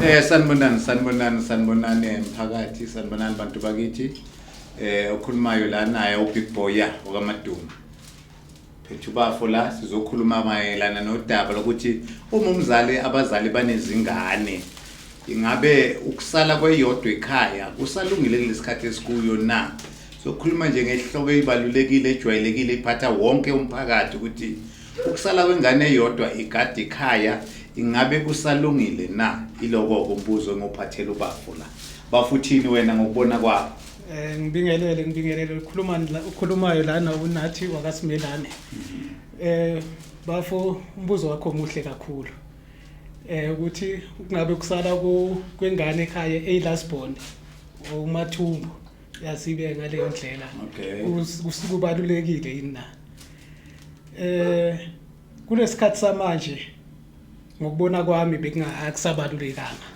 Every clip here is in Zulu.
Eh sanibonani sanibonani sanibonani mphakathi sanibonani bantu bakithi eh okhulumayo la naye uBig Boy ya okaMaduma phethu bafo la sizokhuluma mayelana nodaba lokuthi uma umzali abazali banezingane ingabe ukusala kweyodwa ekhaya kusalungile kulesikhathi esikuyo na sokhuluma nje ngehloko ebalulekile ejwayelekile iphatha wonke umphakathi ukuthi Ukusala kwengane eyodwa igada ikhaya ingabe kusalungile na? Ilokoko umbuzo engophathela ubafo la. Bafo uthini wena ngokubona kwakho? Eh ngibingelele ngibingelele ukhuluma la- ukhulumayo lana unathi wakasimelane. Eh bafo umbuzo wakho omuhle kakhulu. Eh ukuthi kungabe kusala ku- kwengane ekhaya eyi last born umathumbu. yazibe ngaleyo ndlela okay kubalulekile yini na eh kunesikhathi samanje ngokubona kwami bekungakusabalulekanga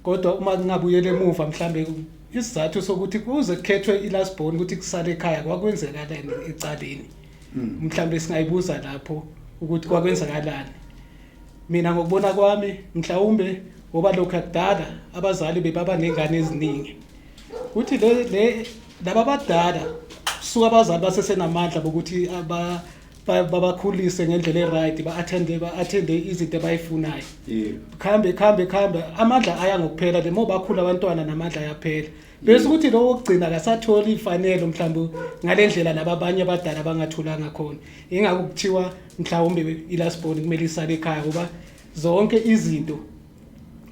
kodwa uma kungabuyela emuva mhlambe isizathu sokuthi kuze kukhethwe ilast born ukuthi kusale ekhaya kwakwenzeka leni ecaleni hmm. mhlambe singayibuza lapho ukuthi kwakwenzakalani mina ngokubona kwami mhlawumbe ngoba lokho akudala abazali bebaba nengane eziningi uthi le le laba badala suka abazali basesenamandla bokuthi aba- ba- babakhulise ngendlela e-right ba-athende ba-athende izinto abayifunayo khambe khambe khambe amandla aya ngokuphela le moba akhula abantwana namandla ayaphela bese ukuthi lowo wokugcina akasatholi ifanelo mhlawumbe ngale ndlela laba abanye abadala bangatholanga khona ingakho kuthiwa mhlawumbe ilasiboni kumele isale ekhaya ngoba zonke izinto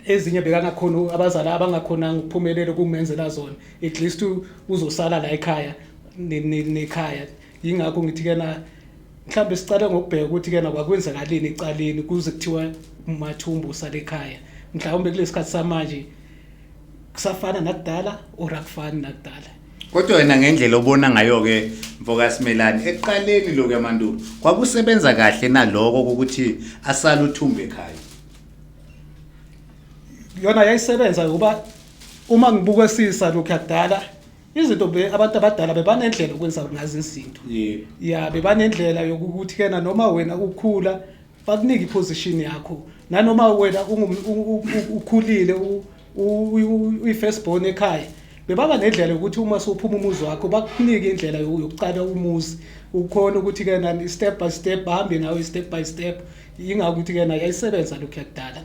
ezinye bekangakhona abazali abangakhonanga ukuphumelela ukumenzela zona at least uzosala la ekhaya nekhaya yingakho ngithi ke na mhlawumbe sicale ngokubheka ukuthi ke na kwakwenzakalini ecaleni kuze kuthiwa umathumbu usale ekhaya mhlawumbe kulesikhathi samanje kusafana nakudala or akufani nakudala kodwa wena ngendlela obona ngayo-ke mfokasimelani ekuqaleni lokhu yamandulo kwakusebenza kahle naloko kokuthi asale uthumbe ekhaya yona yayisebenza ngoba uma ngibukesisa lokhu yakudala izinto be abantu abadala bebanendlela okwenza ngazo izinto yebo ya bebanendlela yokuthi kena noma wena ukhula bakunike iposition yakho nanoma wena ungum- u- u- u- ukhulile u- uyi-first born ekhaya bebaba nendlela yokuthi uma sophuma umuzi wakho bakunike indlela yokuqala umuzi ukhona ukuthi ke nani step by step bahambe nawe step by step yingakho ukuthi ke nayo yayisebenza lokhu yakudala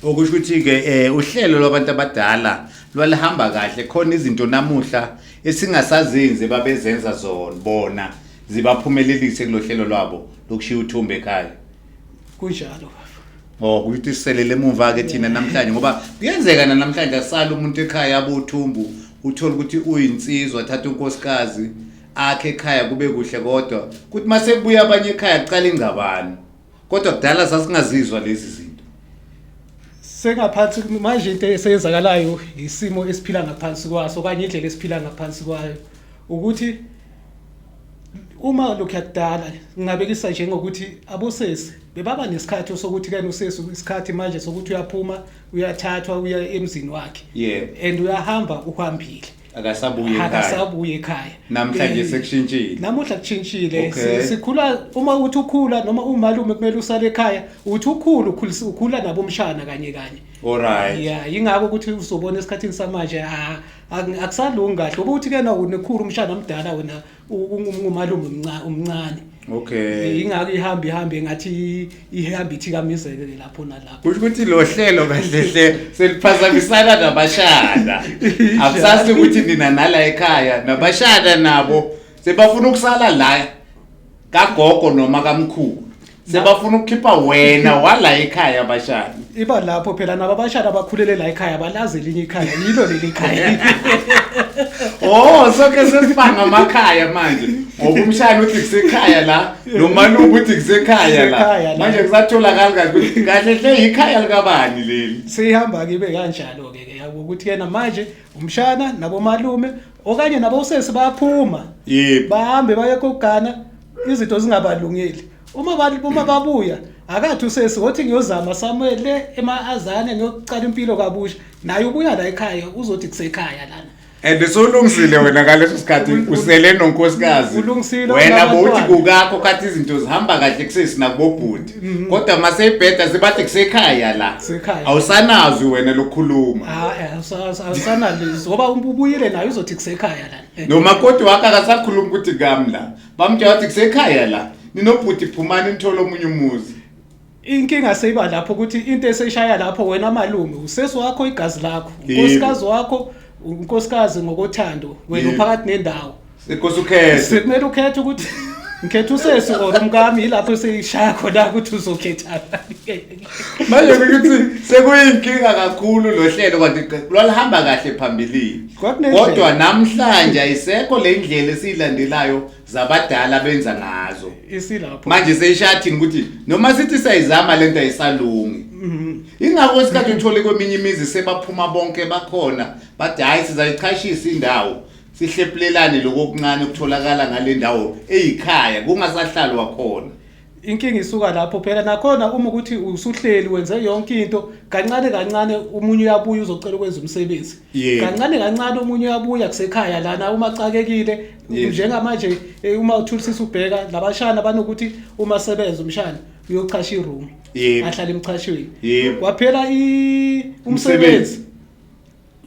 okusho ukuthi ke eh uhlelo lwabantu abadala lwalihamba kahle khona izinto namuhla esingasazenzi babezenza zona bona zibaphumelelise kulohlelo lwabo lokushiya uthumbe ekhaya kunjalo bafo Oh kuyithi iselele emuva ke thina namhlanje ngoba kuyenzeka na namhlanje asala umuntu ekhaya abothumbu uthola ukuthi uyinsizwa thatha unkosikazi akhe ekhaya kube kuhle kodwa kuthi mase kubuya abanye ekhaya kuqala ingcabano kodwa kudala sasingazizwa lezi zinto sengaphansi manje into esenzakalayo isimo esiphila ngaphansi kwaso kanye indlela esiphila ngaphansi kwayo ukuthi uma lokhu yakudala ngingabekisa nje ngokuthi abosesi bebaba nesikhathi sokuthi kani usesi isikhathi manje sokuthi uyaphuma uyathathwa uya emzini wakhe yeah. and uyahamba uhambile akasabuye ekhaya akasabuye ekhaya namhlanje eh, sekushintshile namuhla kushintshile okay. sikhula uma uthi ukhula noma umalume kumele usale ekhaya uthi ukhula ukhulisa ukhula nabomshana kanye kanye alright yeah ingakho ukuthi uzobona esikhathini samanje ah akusalungi kahle ukuthi ke na unekhulu umshana omdala wena ungumalume umncane umncane okay ingakho ihamba ihamba engathi ihamba ithikamizeke ke lapho nalapho kusho ukuthi lo hlelo kahle hle seliphazamisana nabashada akusasi ukuthi nina nala ekhaya nabashada nabo sebafuna ukusala la kagogo noma kamkhulu sebafuna ukukhipha wena wala ekhaya abashana iba lapho phela nabo abashana abakhulele la ekhaya balazi elinye ikhaya yilo leli khaya oh soke sesibanga amakhaya manje ngoba umshana uthi kusekhaya la nomaluku uthi kusekhaya la manje kusatholakala kahle kahle hle yikhaya likabani leli sihamba kibe kanjalo-ke ke ukuthi yena manje umshana nabomalume okanye nabo usesi bayaphuma yebo bahambe baye kogana izinto zingabalungeli uma abantu uma babuya akathi usesi wothi ngiyozama somewhere le emaazane ngiyoqala impilo kabusha naye ubuya la ekhaya uzothi kusekhaya lana and solungisile wena ngaleso sikhathi usele nonkosikazi Ulungisile, wena unabantwana. bowuthi kukakho kathi izinto zihamba kahle kusesi nakubobhuti Mhm. kodwa maseyibheda sebathi kusekhaya la Kusekhaya. awusanazi wena lokukhuluma Ah, eh, awusa- awusa- awusanalizwi ngoba um- ubuyile nayo uzothi kusekhaya lana Eh, nomakoti wakhe akasakhulumi ukuthi kami la bamtshela wathi kusekhaya la ninobhuti phumani nithole omunye umuzi inkinga seyiba lapho ukuthi into eseshaya lapho wena malume usesi wakho igazi lakho Yebo. unkosikazi wakho unkosikazi ngokothando wena Yebo. uphakathi nendawo Sikhosi ukhethe. Sekumele ukhethe ukuthi ngikhetha usesi or umkami yilapho seyishaya khona ukuthi uzokhethana. Manje ukuthi sekuyinkinga kakhulu lo hlelo kanti qe- lwalihamba kahle phambilini. Kwakunendlela. Kodwa namhlanje ayisekho le ndlela esiyilandelayo zabadala benza ngazo. Isilapho. Manje seyishathini ukuthi noma sithi sayizama lento ayisalungi. Mhm. Ingakho isikhathi uthole kweminye imizi sebaphuma bonke bakhona bathi hayi sizayichashisa indawo. sihlephulelane lokho okuncane okutholakala ngale ndawo eyikhaya kungasahlalwa khona inkinga isuka lapho phela nakhona uma ukuthi usuhleli wenze yonke into kancane kancane umunye uyabuya uzocela ukwenza umsebenzi Yebo. kancane kancane umunye uyabuya kusekhaya lana uma xakekile Yebo. njengamanje eh, uma uthulisisa ubheka labashana banokuthi uma sebenza umshana uyochasha iroom Yebo. ahlale emchashweni Yebo. kwaphela i- umsebenzi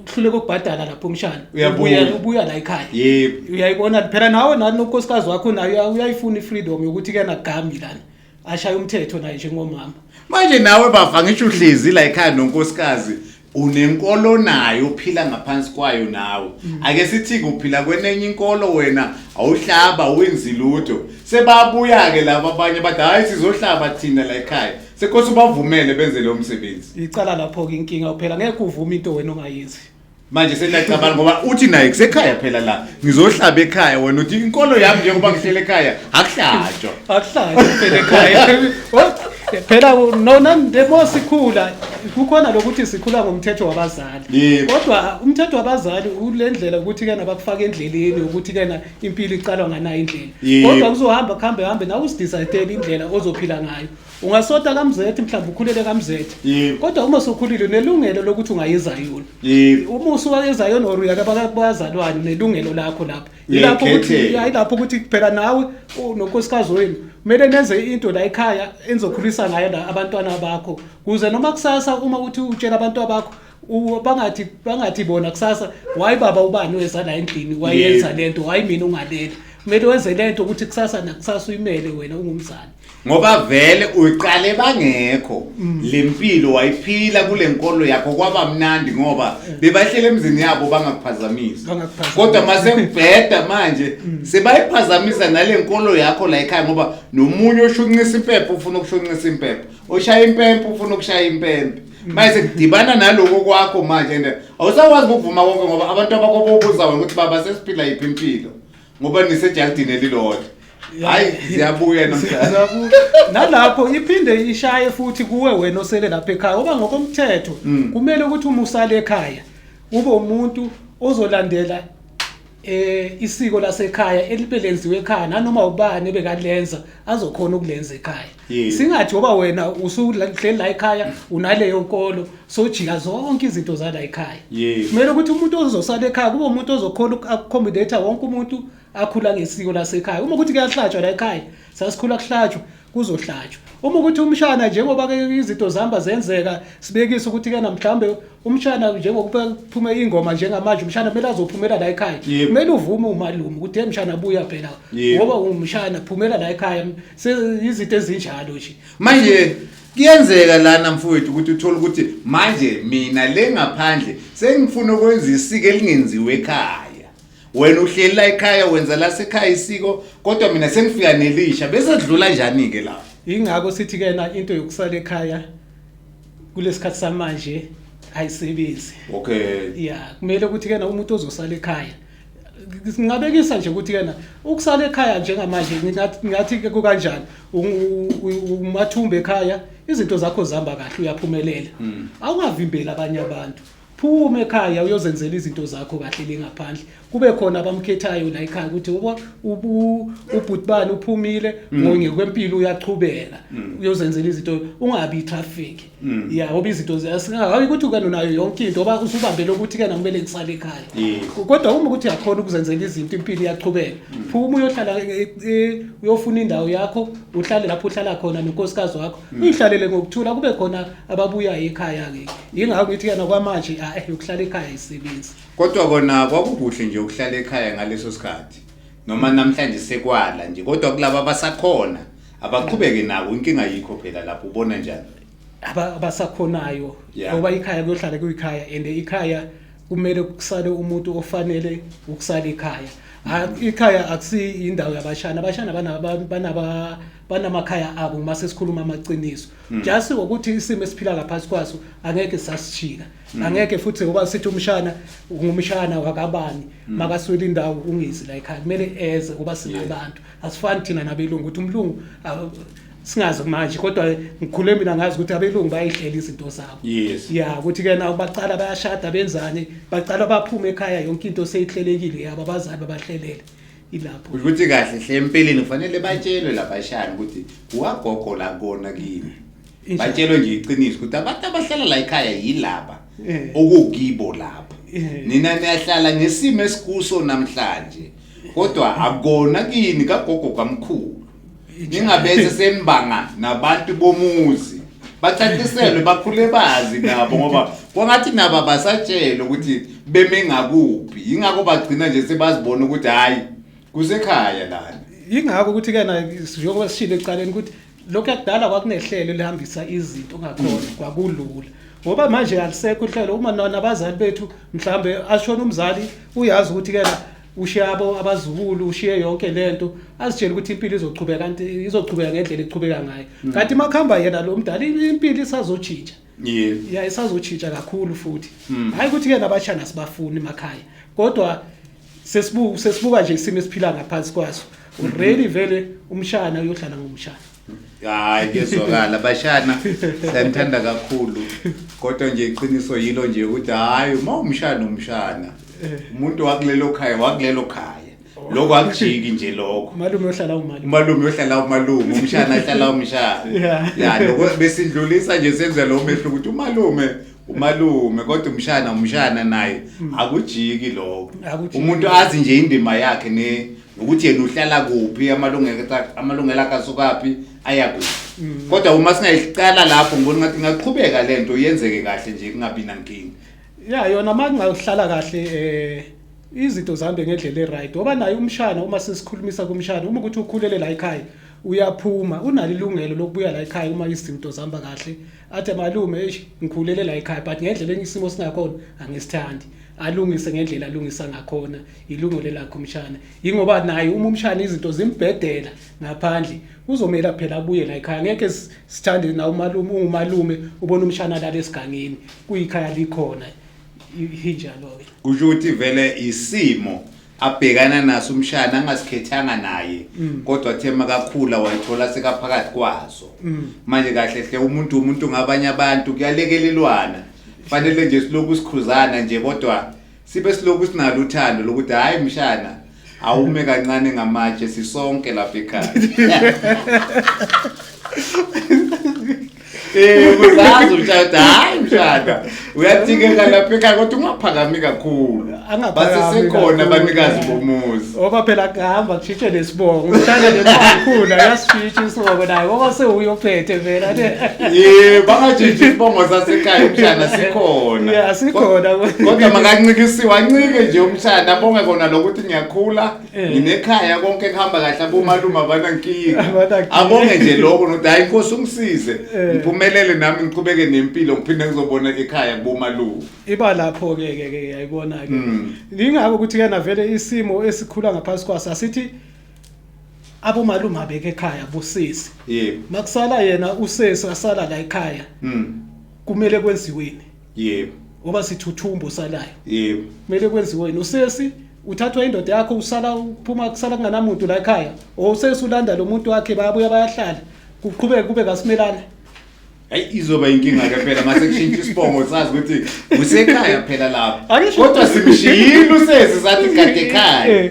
uhluleka ukubhadala lapho umshana Uyabuya. Ubuya- ubuya la ekhaya yebo uyayibona phela nawe nani nonkosikazi wakho naye uya- uyayifuna i-freedom yokuthi ke nagami lana ashaye umthetho naye njengomama manje nawe bava ngisho uhlezi la ekhaya nonkosikazi unenkolo nayo uphila ngaphansi kwayo nawe ake sithi-ke uphila kwenenye inkolo wena awuhlaba awenzi lutho sebabuya-ke laba abanye bathi hhayi sizohlaba thina la ekhaya Sekose ubavumele benze lo msebenzi. Icala lapho ke inkinga phela ngeke uvume into wena ongayenzi. Manje senacabanga ngoba uthi naye kusekhaya phela la. Ngizohlaba ekhaya wena uthi inkolo yami njengoba ngihlele ekhaya akuhlatshwa. Akuhlanje phela ekhaya. Oh, Phela nona ndemo sikhula kukhona lokuthi sikhula ngomthetho wabazali. Yebo. Kodwa umthetho wabazali ulendlela ukuthi kana bakufaka endleleni ukuthi kana impilo iqalwa nganayo indlela. Yebo. Kodwa kuzohamba kuhambe hambe nawe usidecide indlela ozophila ngayo. ungasota kamzethi mhlawumbe ukhulele kamzethi Yebo. kodwa uma usukhulile unelungelo lokuthi ungayezayona Yebo. uma usuwayezayona or uyaka baka- bazalwane unelungelo lakho lapho yilapho ukuthi Uyayikhethela. ya, yilapho ukuthi phela nawe u- nonkosikazi wenu kumele nenze into la ekhaya enizokhulisa ngayo la abantwana bakho kuze noma kusasa uma uthi utshela abantwana bakho u- bangathi bangathi bona kusasa wayi baba ubani weza la endlini wayenza Yebo. lento wayi mina ungaleli kumele wenze lento ukuthi kusasa nakusasa uyimele wena ungumzali ngoba vele uyiqale bangekho mm. le mpilo wayiphila kule nkolo yakho kwaba mnandi ngoba mm. bebahlele emzini yabo bangakuphazamisi kodwa masebheda manje mm. sebayiphazamisa nale nkolo yakho la ekhaya ngoba nomunye oshunqisa impepho ufuna ukushunqisa impepho oshaya impempe ufuna ukushaya impempe manje sekudibana naloko kwakho manje and awusakwazi ukuvuma konke ngoba abantu abakho bobuza wena ukuthi baba sesiphila yiphi impilo ngoba nisejalidini elilodwa hayi ziyabuya namhlanje nalapho iphinde ishaye futhi kuwe wena osele lapha ekhaya oba ngokomthetho hmm. kumele ukuthi uma usale ekhaya ube umuntu ozolandela eh isiko lasekhaya elibelenziwe ekhaya nanoma ubani ebekalenza azokhona ukulenza ekhaya Yes. singathi ngoba wena usuhleli la ekhaya unaleyo nkolo sojika zonke izinto zala ekhaya Yes. kumele ukuthi umuntu ozosala ekhaya kube umuntu ozokhona uku-accommodate wonke umuntu akhula ngesiko lasekhaya uma ukuthi kuyahlatshwa la ekhaya sasikhula kuhlatshwa kuzohlatshwa uma ukuthi umshana njengoba ke izinto zihamba zenzeka sibekise ukuthi kena mhlawumbe umshana njengokuba kuphume ingoma njengamanje umshana kumele azophumela la ekhaya Yebo. kumele uvume umalume ukuthi hey mshana buya phela Yebo. ngoba ungumshana phumela la ekhaya seyizinto ezinjalo nje manje kuyenzeka lana mfowethu ukuthi uthole ukuthi manje mina le ngaphandle sengifuna ukwenza isiko elingenziwe ekhaya wena uhleli la ekhaya wenza la sekhaya isiko kodwa mina sengifika nelisha bese dlula njani ke la ingakho sithi ke na into yokusala ekhaya kulesikhathi samanje ayisebenzi okay yeah kumele ukuthi ke na umuntu ozosala ekhaya ngingabekisa nje ukuthi kena ukusala ekhaya njengamanje ngathi ke kukanjani umathumba ekhaya izinto zakho zihamba kahle uyaphumelela hmm. awungavimbeli abanye abantu phuma ekhaya uyozenzela izinto zakho kahle lengaphandle kube khona abamkhethayo la ekhaya ukuthi ubhutibani uphumile mm. ngokwempilo uyachubeka mm. uyozenzela izinto ungabi i-traffic Mm. ya ngoba izinto hayi ukuthi ukena nayo yonke into oba usubambele ukuthi kena kumele ngisale ekhaya kodwa uma ukuthi yakhona ukuzenzela izinto impilo iyaqhubeka mm. phuma uyohlala e, e, uyofuna indawo yakho uhlale lapho uhlala khona nonkosikazi wakho mm. uyihlalele ngokuthula kube khona ababuyayo ekhaya-ke yingakho ngithi kena kwamanje a eh, yokuhlala ekhaya ayisebenzi kodwa kona kwakukuhle nje ukuhlala ekhaya ngaleso sikhathi noma namhlanje sekwala nje kodwa kulaba abasakhona abaqhubeke nako inkinga yikho phela lapho ubona njani aba- abasakhonayo Yeah. ngoba ikhaya kuyohlala kuyikhaya and ikhaya kumele kusale umuntu ofanele ukusala ikhaya Ha- ikhaya akusiyi indawo yabashana abashana bana- ba- banaba- banamakhaya abo uma sesikhuluma amaqiniso just ukuthi isimo esiphila ngaphansi kwaso angeke sasijika Mm. angeke futhi ngoba sithi umshana ngumshana wakabani mm. makaswele indawo ungizi la ekhaya kumele eze kuba singabantu asifani thina nabelungu ukuthi umlungu singazi manje kodwa ngikhule mina ngazi ukuthi abelungu bayihlela izinto zabo yes ya ukuthi ke nawo bacala bayashada benzani bacala baphume ekhaya yonke into seyihlelekile yabo abazali babahlelele ilapho ukuthi kahle hle empeleni kufanele batshelwe labashana ukuthi wagogo la kona kini batshelwe nje iqiniso ukuthi abantu abahlala la ekhaya yilaba eh. okukibo lapha eh. nina niyahlala ngesimo esikuso namhlanje kodwa akona kini kagogo kamkhulu ningabenze sembanga nabantu bomuzi bacaciselwe bakhule bazi nabo ngoba kwangathi nabo basatshelwe ukuthi beme ngakuphi yingakho bagcina nje sebazibona ukuthi hhayi kusekhaya lana yingakho ukuthi-ke na njengoba sishile ekuqaleni ukuthi lokhu yakudala kwakunehlelo elihambisa izinto ngakhona mm. kwakulula ngoba manje alisekho uhlelo uma nabazali bethu mhlambe ashona umzali uyazi ukuthi kena ushiye abo abazukulu ushiye yonke lento azitshela ukuthi impilo izochubeka kanti izochubeka ngendlela echubeka ngayo mm. kanti makhamba yena lo mdala impilo isazojija yeah yeah isazotshintsha kakhulu futhi hmm. hayi ukuthi ke nabashana sibafuni emakhaya kodwa sesibuka sesibuka nje isimo esiphila ngaphansi kwaso already hmm. vele umshana uyohlala ngomshana hayi kezwakala bashana siyanithanda kakhulu kodwa nje iqiniso yilo nje ukuthi hayi uma umshana umshana eh. umuntu wakulelo khaya wakulelo khaya lokho akujiki nje lokho umalume uyohlala umalume umalume uyohlala umalume umshana ahlala umshana Yeah. ya lokho besidlulisa nje senza lo mehlo ukuthi umalume umalume kodwa umshana umshana naye akujiki lokho Mm. Akujiki. umuntu azi nje indima yakhe ne nokuthi yena uhlala kuphi amalungelo akhe- amalungelo akhe asukaphi aya kuphi Mm. kodwa uma singayiqala lapho ngibona ngathi ingaqhubeka lento yenzeke kahle nje kungabi nankinga ya yona uma kungahlala kahle um izinto zihambe ngendlela e-right ngoba naye umshana uma sesikhulumisa kumshana uma ukuthi ukhulele la ekhaya uyaphuma unalo ilungelo lokubuya la ekhaya uma izinto zihamba kahle athi malume eish ngikhulele la ekhaya but ngendlela engisimo singakhona angisithandi alungise ngendlela alungisa ngakhona ilungelo lakho umshana yingoba naye uma umshana izinto zimbhedela ngaphandle kuzomela phela abuye la ekhaya ngeke sithande na umalume ungumalume ubona umshana lala esigangeni kuyikhaya likhona injalo-ke kusho ukuthi vele isimo abhekana naso umshana angasikhethanga naye mm. kodwa athe makakhula wayithola sekaphakathi kwaso mm. manje kahle hle umuntu umuntu ngabanye abantu kuyalekelelwana fanele nje siloku sikhuzana nje kodwa sibe siloku sinalo uthando lokuthi hayi mshana awume kancane ngamatshe sisonke lapha ekhaya Eh kuzazi umshada hayi mshada uyathikeka lapha ekhaya kodwa ungaphakami kakhulu Angaphakami basesekhona kakhulu. abanikazi bomuzi Oba phela kuhamba kushitshe nesibongo. Uthanda nemali khula yasifika. isibongo naye ngoba sewuye ophethe vela ye bangajiji isibongo sasekhaya umshana sikhona ya sikhona kodwa makancikisiwe ancike nje umshana abonge kona lokuthi ngiyakhula eh. nginekhaya konke kuhamba kahle abomalume abanankinga abonge nje lokho nokuthi hayi inkosi ungisize eh. ngiphumelele nami ngiqhubeke nempilo ngiphinde ngizobona ekhaya kubomalume iba lapho ke ke ke yayibona ke mm. ingakho ukuthi ke navele isimo esikhula ngaphansi kwaso asithi abomalume abeke ekhaya bosisi yebo makusala yena usesi asala la ekhaya mm kumele kwenziweni yebo ngoba sithuthumbo salayo yebo kumele kwenziweni usesi uthathwa indoda yakho usala uphuma kusala kunganamuntu la ekhaya or usesi ulanda lo muntu wakhe bayabuya bayahlala kuqhubeke kube kasimelane Hayi izoba inkinga ke phela mase kushintsha isibongo sazi ukuthi usekhaya phela lapha. Angisho- Kodwa simshiyile usezi sathi kade ekhaya.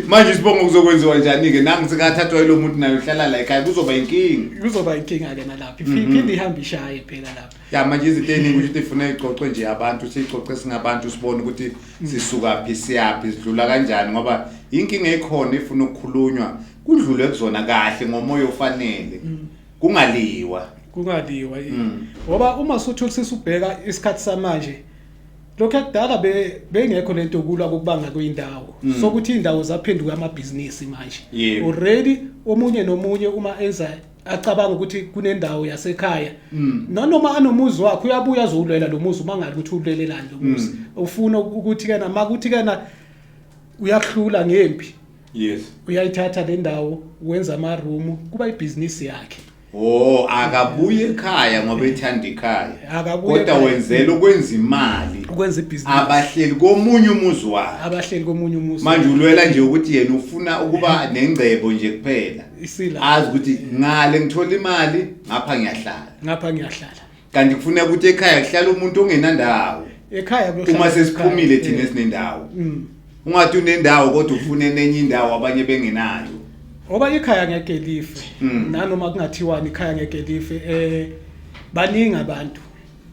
Manje isibongo kuzokwenziwa njani ke nangu sikathathwa yilo muntu naye uhlala la ekhaya kuzoba inkinga. kuzoba inkinga ke nalapha Mhm. iphinde ihambe ishaye phela lapha Ya manje izinto eziningi ukuthi uthi ifuna ixoxwe nje abantu sixoxe singabantu sibone ukuthi sisuka phi siyaphi sidlula kanjani ngoba inkinga ekhona ifuna ukukhulunywa kudlulwe kuzona kahle ngomoya ofanele. kungaliwa kungaliwa mm. ngoba uma suthulisisa ubheka isikhathi samanje lokho ekudala bengekho lento yokulwa kokubanga kwindawo mm. sokuthi indawo zaphenduka amabhizinisi manje already omunye nomunye uma enza acabanga ukuthi kunendawo yasekhaya mm. nanoma anomuzi wakhe uyabuya azowulwela lo muzi uma ngathi ukuthi ulwelelani lo muzi ufuna ukuthi kana makuthi kana uyahlula ngempi yes uyayithatha le ndawo wenza ama room kuba ibhizinisi yakhe Oh akabuye ekhaya ngoba ethanda ikhaya. Akabuye Kodwa ekhaya. wenzela ukwenza imali. ukwenza ibhizinisi Abahleli komunye umuzi wakhe. abahleli komunye umuzi Manje ulwela nje ukuthi yena ufuna ukuba nengcebo nje kuphela. isila Azi ukuthi ngale ngithola imali ngapha ngiyahlala. ngapha ngiyahlala kanti kufuneka ukuthi ekhaya kuhlala umuntu ongenandawo ekhaya kuyohlala uma sesiphumile ekhaya. thina Eh, esinendawo mm. ungathi unendawo kodwa ufune nenye indawo abanye bengenayo ngoba ikhaya ngeke life Mm. nanoma kungathiwani ikhaya ngeke life eh baningi abantu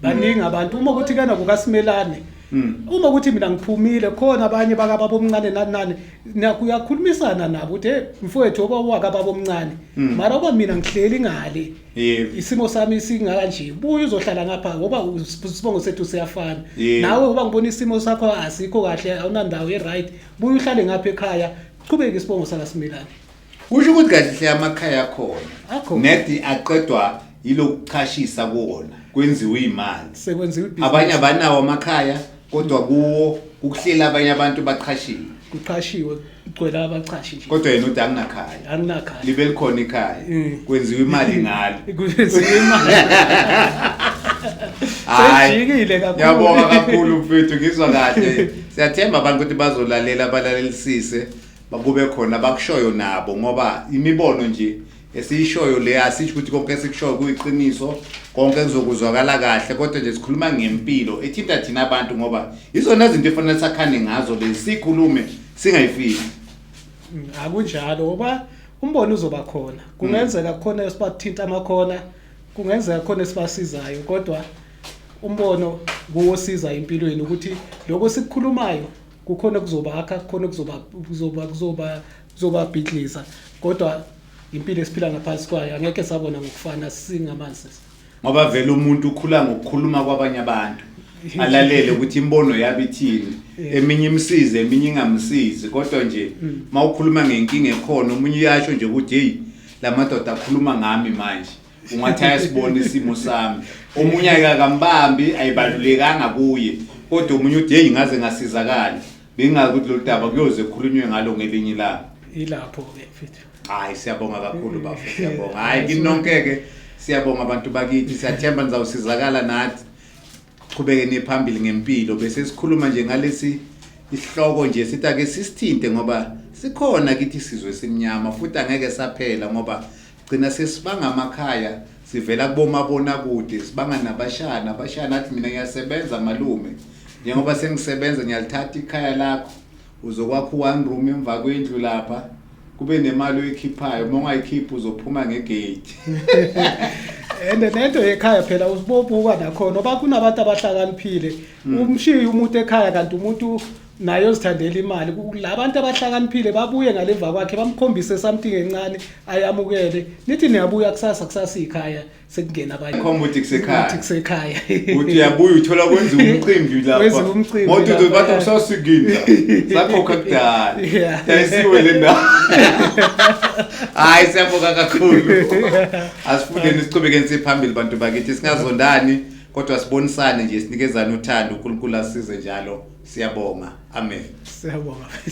baningi abantu uma ukuthi kana kukasimelane Mm. uma ukuthi mina ngiphumile khona abanye bakababa omncane nani nani na- kuyakhulumisana nabo ukuthi hey mfowethu oba wakababa omncane Mm. mara oba mina ngihleli ngale Yebo. isimo sami singakanje buye uzohlala ngapha ngoba isibongo sethu siyafana Yebo. nawe ngoba ngibona isimo sakho asikho kahle awunandawo e-right buye uhlale ngapha ekhaya qhubeke isibongo sakasimilane kusho ukuthi kahle hle amakhaya akhona Akhona. nedi aqedwa yilokuchashisa kuwona kwenziwa imali sekwenziwa ibhizinisi. abanye abanawo amakhaya Kodwa kuwo ukuhlela abanye abantu baqhashiwe. Kuqhashiwe kugcwele abaqhashi nje. Kodwa yena uthi anginakhaya. Anginakhaya. Libe likhona ikhaya. Mm. Kwenziwa imali ngalo. Kwenziwa imali. Sejikile kakhulu. Ngiyabonga kakhulu mfethu ngizwa kahle. Siyathemba abantu ukuthi bazolalela balalelisise bakube khona bakushoyo nabo ngoba imibono nje esiyishoyo le asisho ukuthi konke esikushoyo kuyiqiniso konke kuzokuzwakala kahle kodwa nje sikhuluma ngempilo ethinta thina abantu ngoba izona zinto efanele sakhane ngazo lezi sikhulume singayifiki mm, akunjalo ngoba umbono uzoba khona kungenzeka mm. khona esibathinta amakhona kungenzeka khona esibasizayo kodwa umbono kuwosiza empilweni ukuthi lokho sikukhulumayo kukhona kuzobakha kukhona kuzoba kuzoba kuzoba zobabhidliza kodwa impilo esiphila ngaphansi kwayo angeke sabona ngokufana singamanzi ngoba vele umuntu ukhula ngokukhuluma kwabanye abantu alalele ukuthi imbono yabo ithini eminye imsize eminye ingamsizi kodwa nje mm. uma ukhuluma ngenkinga ekhona omunye uyasho nje ukuthi heyi la madoda akhuluma ngami manje ungathi ayasibona isimo sami omunye ayikakambambi ayibalulekanga kuye kodwa omunye uthi heyi ngaze ngasizakala Bengazi ukuthi lolu daba kuyoze kukhulunywe ngalo ngelinye ilanga. Ilapho-ke mfethu. Hayi siyabonga kakhulu bafo siyabonga. Hayi kini nonke-ke siyabonga abantu bakithi siyathemba nizawusizakala nathi. Qhubekeni phambili ngempilo bese sikhuluma nje ngalesi isihloko nje sithi ake sisithinte ngoba sikhona kithi isizwe esimnyama futhi angeke saphela ngoba Gcina sesibanga amakhaya sivela kubomabonakude sibanga nabashaya nabashaya nathi mina ngiyasebenza malume njengoba sengisebenza ngiyalithatha ikhaya lakho uzokwakha u-one room emva kwendlu lapha kube nemali oyikhiphayo uma ungayikhiphi uzophuma ngegate and nento yekhaya phela usibobuka nakhona oba kunabantu abahlakaniphile mm. umshiye umuntu ekhaya kanti umuntu naye ozithandela imali la bantu abahlakaniphile babuye ngaleva kwakhe bamkhombise something encane ayamukele nithi niyabuya kusasa kusasa ikhaya sekungena abanye khomba ukuthi kusekhaya ukuthi kusekhaya uthi uyabuya uthola kwenza umcimbi lapha kwenza umcimbi ngoba uthi bathi usasikini sakhokha kudala dayisiwe le ndawo hayi siyabonga kakhulu asifundeni siqhubekeni siphambili bantu bakithi singazondani kodwa sibonisane nje sinikezane uthando uNkulunkulu asize njalo siyabonga amen siyabonga